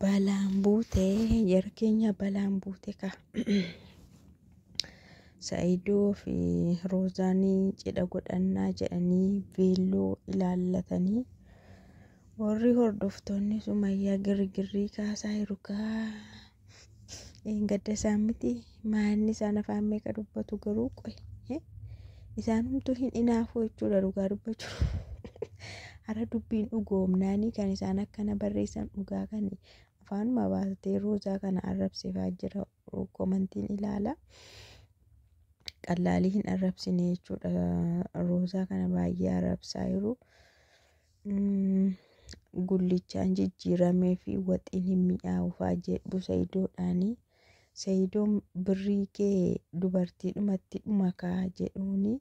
Balaan buute jara keenya balaan buute ka. Sa'idoo fi Roozaanii cidha godhannaa jedhanii veelloo ilaallatanii warri hordoftoonni sumayyaa girgirrii kaasaa jiru kaa. Een gadda isaan miti maanni isaan afaan meeqa dubbatu garuu qoy eh, isaan humtuu hin inaafuu jechuudha dhugaa dubbachuu har'a dubbiin dhugoomnaanii kan isaan akkana barreessan dhugaa kan afaanuma baatee roozaa kana arrabsifaa jira komantiin ilaala qallaalii hin arrabsine jechuudha roozaa kana baay'ee arrabsaa jiru. Gullichaan jijjiiramee fi waxiin hin mi'aawufaa jedhu sayidoodhaani. Sayidoon birrii kee dubartiidhumatti dhuma kaa jedhuuni.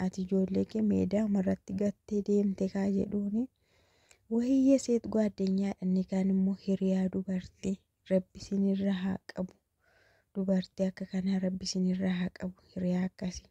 Ati ijoollee kee meedaa marratti gattee deemte kaa jedhuuni. Wayii yeseet ጓደኛዬ inni kaan immoo hiriyaa dubartii rabbi sinirra haa qabu. Dubartii akka kanaa rabbi sinirra haa qabu hiriyaa akkasii.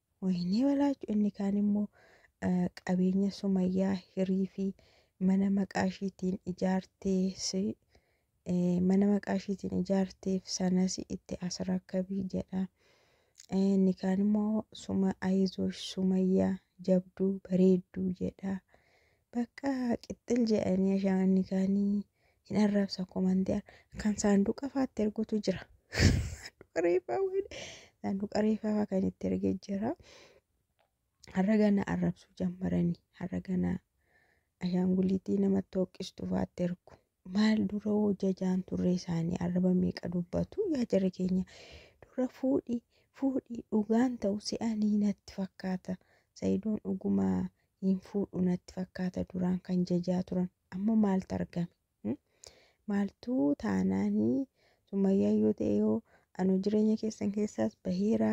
Wayinee Balaachoo inni kaan immoo qabeenya Sumayyaa hirii fi mana maqaa ishiitiin ijaartees mana maqaa ishiitiin ijaarteef sanas itti as rakkabii jedha. Inni kaan immoo suma ayizoosh Sumayyaa jabduu bareedduu jedha. Bakka qixxil jedhanii ashaanni kaanii hin arrabsa komantii kan saanduqa faatti ergutu jira. Saanduqa reeffaa waan saanduqa reeffaa faa kan itti ergee jira. Har'a gana arrabsuu jammaranii har'a gana ashaanguliitii namatti hooqqistu faatti ergu. Maal dura hoo jajaan turre isaanii arraba meeqa dubbatu yaa jara keenya dura fuudhi fuudhi dhugaan ta'u se'anii natti fakkaata sayidoon dhuguma hin fuudhu natti fakkaata duraan kan jajaa turan amma maaltu argame hmm? maaltu taanaanii summayyaa yoo ta'e yoo anu jireenya keessan keessaas baheera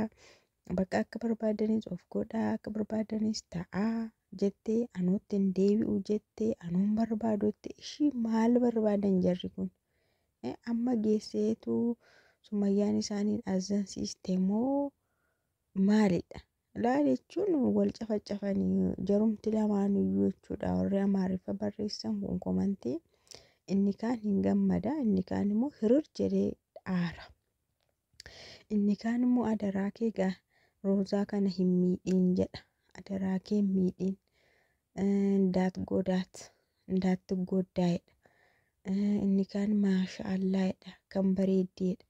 Bakka akka barbaadanis of godhaa akka barbaadanis ta'aa jettee anootti hin deebi'u jettee anoon barbaadutti ishii maal barbaadan jarri kun amma geesseetu sumayyaan isaaniin azansiiste moo maalidha laa jechuun wal cafacafanii jarumti lamaanuyyuu jechuudha warri amaariffa barreessan kun komantii inni kaan hin gammada inni kaan immoo hirir jedhee aara. Inni kaan immoo adaraa kee gaa Roozaa kana hin miidhiin jedha. Adaraa kee hin miidhiin. Ndaat godaat. Ndaat tuggooddaa jedha. Inni kaan maasha allaa jedha. Kan bareeddii jedha.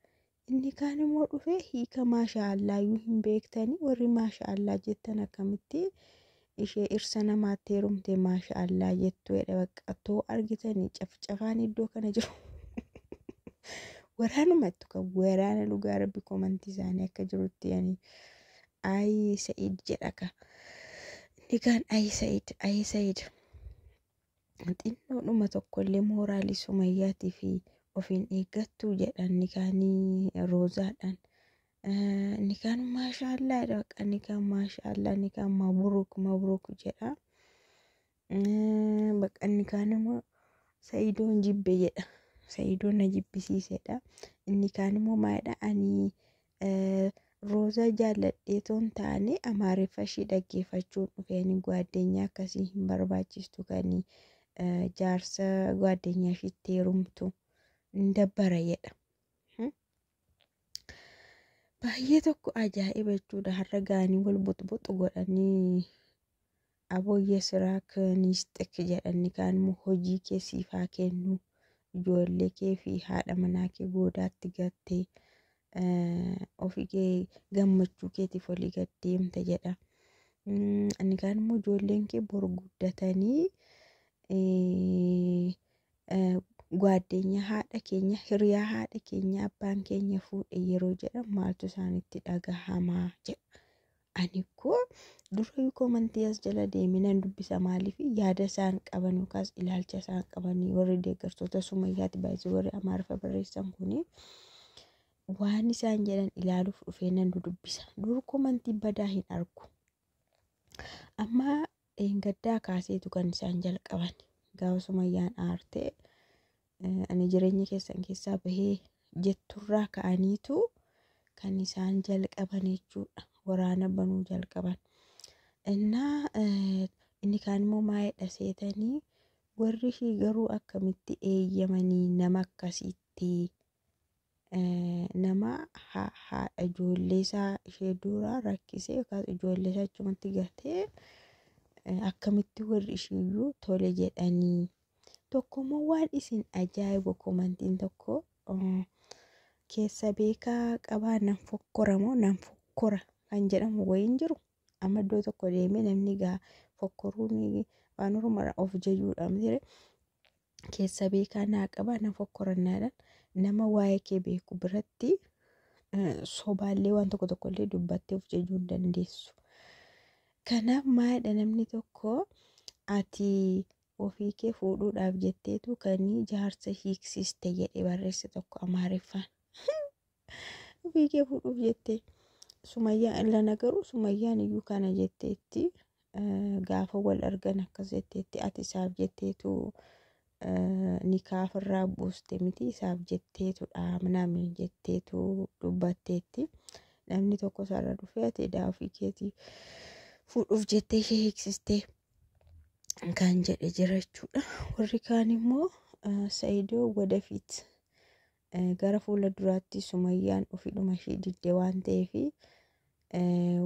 Inni kaan immoo dhufee hiika maasha allaa iyyuu hin beektanii warri maasha allaa jettan akkamitti ishee irsa namaatti heerumte maasha allaa jettu jedhe bakka too argitanii cafcafaan iddoo kana jiru waraanumattu kan waraana dhugaa rabbi komantii isaanii akka jirutti yani ayi sa'id jedha ka inni kaan ayi sa'id ayi sa'id xinnoodhuma tokkollee mooraalii sumayyaatii fi ofiin eeggattuu jedhan nikaanii roozaadhaan Nikaan maashaallah dha bakka nikaan maashaallah nikaan mabruuk mabruuk jedha. Bakka nikaan immoo sa'idoon jibbe jedha. Sa'idoon na jibbisiisedha. Inni kaan immoo maalidha ani roozaa jaalladhee toon taane amaariffa ishii dhaggeeffachuun dhufeen gwaaddenyaa akkasii hin barbaachistu kan jaarsa gwaaddenyaa ishiitti heerumtu hin dabbara jedha. baay'ee tokko ajaa'iba jechuudha har'a gaanii wal buxbuxu godhanii abooyyee siraa kaniis xikki jedhanni kaan immoo hojii kee siif haa kennu ijoollee kee fi haadha manaa kee goodaatti gattee eh, ofii kee gammachuu keetiif olii gad deemta jedha. Mm, Inni kaan immoo ijoolleen kee bor guddatanii eh, Gwaaddeenya haadha keenya hiriyaa haadha keenya abbaan keenya fuudhe yeroo jedhan maaltu isaanitti dhagahamaa jedha. Ani koo dura yukoo mantii as jala deeminan dubbisa maaliif yaada isaan qaban yookaas ilaalcha isaan qaban warri deeggartoota sumayyaati baay'isuu warri amaariffa barreessan kuni waan isaan jedhan ilaaluuf dhufee nan dudubbisa. Dur komantii badaa hin argu. Amma gaddaa kaaseetu kan isaan jalqaban. Gaafa sumayyaan aartee ani jireenya keessan keessaa bahee jetturraa ka'aniitu kan isaan jalqaban jechuudha. Waraana banuu jalqaban. Innaa inni kaan immoo maayedha seetanii warri ishii garuu akkamitti eeyyamanii nama akkasiitti nama haadha ijoollee isaa ishee dura rakkisee yookaas ijoollee isaa achumatti gatee akkamitti warri ishiiyyuu tole jedhanii tokko immoo waan isin ajaa'ibu komantiin tokko keessa beekaa qabaa nan fokkora moo nan fokkora kan jedhamu wayiin jiru amma iddoo tokko deemee namni gaa fokkoruun waan oromoodha of jajuudha miti keessa beekaa naa qabaa na fokkorannaadhaan nama waa'ee kee beeku biratti sobaallee waan tokko tokkollee dubbattee of jejuu hin dandeessu. Kanaaf maayidha namni tokko ati ofii kee fuudhuudhaaf jetteetu kanii jaarsa hiiksiste jedhe barreesse tokko amaariffaan. Fiigee fuudhuuf jettee. Sumayyaa illana garuu sumayyaan iyyuu kana jetteetti gaafa wal argan akkas jetteetti ati isaaf jetteetu nikaafirraa buuste miti isaaf jetteetu dhaamname jetteetu dubbatteetti namni tokko isaarra dhufee ati edaa ofii keetii fuudhuuf jettee ishee hiiksistee kan jedhe jira jechuudha warri kaan immoo sayidoo wadafiit Gara fuula duraatti sumayyaan ofidhuma ishee didde waan ta'eef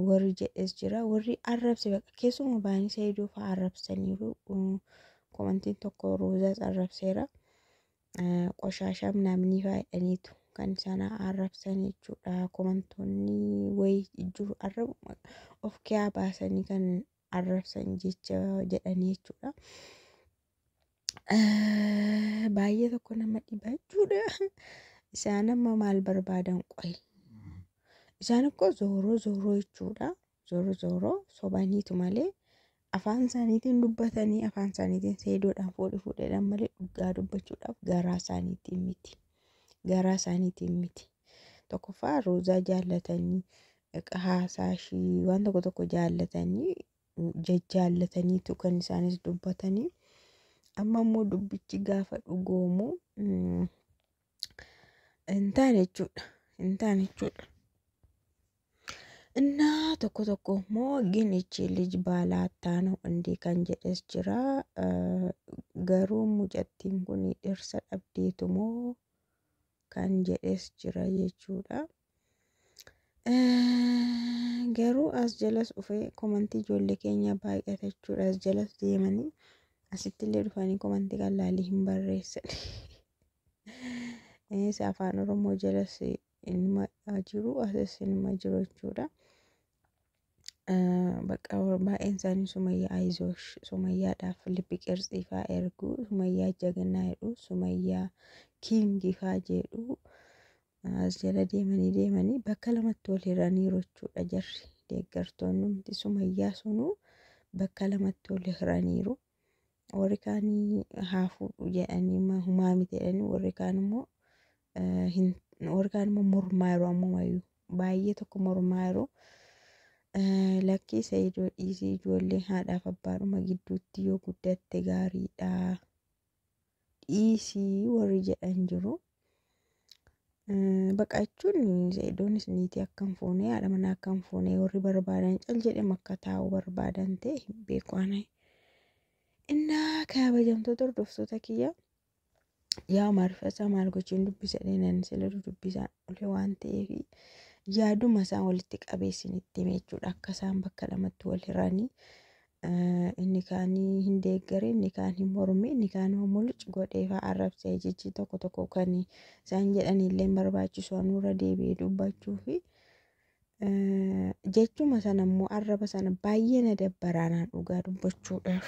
warri jedhes jira warri arrabse baqa keessuma baay'inni saayidoo fa'aa arrabsaniiru komantiin tokko roozaas arrabseera qoshaashaa minaaminii faayidhaniitu kan sana arrabsan jechuudha komantoonni wayii jiru arrabu of kiyaa baasanii kan arrabsan jecha jedhanii jechuudha. Eh, Baay'ee tokko nama dhiba jechuudha. Isaan amma maal barbaadan qoyi? Isaan akkoo zooroo zooroo jechuudha. Zooroo zooroo sobaniitu malee afaan isaaniitiin dubbatanii afaan isaaniitiin seedoodhaan fuudhi fuudheedhaan malee dhugaa dubbachuudhaaf garaa isaaniitiin miti. garaa isaaniitiin miti. Tokkoffaa roozaa jaallatanii haasaa ishii waan tokko tokko jaallatanii jajjaallataniitu kan isaanis dubbatanii amma immoo dubbichi gaafa dhugoomu hin taane jechuudha hin taane jechuudha. Innaa tokko tokko immoo ginichi lij baalaattaan hundi kan jedhes jira. Garuu mucattiin kun dhirsa dhabdeetu moo kan jedhes jira jechuudha. Garuu as jalas dhufee komantii ijoollee keenya baay'ata jechuudha. As jalas deemanii asitti illee dhufanii komantii kan laalii hin barreessan. Isa afaan Oromoo jalas Inuma jiru asis inuma jiru jechuudha. Bakka baay'een isaanii sumayyaa ayizoosh sumayyaadhaaf liphi qirtsii faa ergu sumayyaa jagnaa jedhu sumayyaa kiingii faa jedhu as jala deemanii deemanii bakka lamatti wal hiraniiru jechuudha jarri deeggartoonni hundi sumayyaa sunuu bakka lamatti wal hiraniiru. Warri kaanii haa fuudhu jedhanii ma- humaa miti jedhanii warri kaan immoo eh, hin- warri kaan immoo mormaa yeroo ammumayyuu baay'ee tokko mormaa yeroo eh, lakkii Sa'idoo dhiisii ijoollee haadhaaf abbaadhuma gidduutti yoo guddatte gaariidha dhiisii warri jedhan jiru Baqa jechuun See'idoonis niitii akka hin fuune haadha manaa akka hin fuune warri barbaadan cal jedhee akka taa'u barbaadan ta'e hin beeku ani. Innaa kabajamtoota hordoftoota kiyya yaa maarfasaa maal gochuun dubbisa dheenan sila dubbisaan olee waan ta'eef yaaduma isaan walitti qabeessin itti hime jechuudha akka isaan bakka lamatti wal hiranii inni kaan hin deeggare, inni kaan hin morme, inni kaan hoo mul'uc godhee faa arrabsee jechi tokko tokko kan isaan jedhanii illee hin barbaachisu anurra deebi'ee dubbachuu fi jechuma sana immoo arraba sana baay'ee na dabbaraa naan dhugaa dubbachuudhaaf.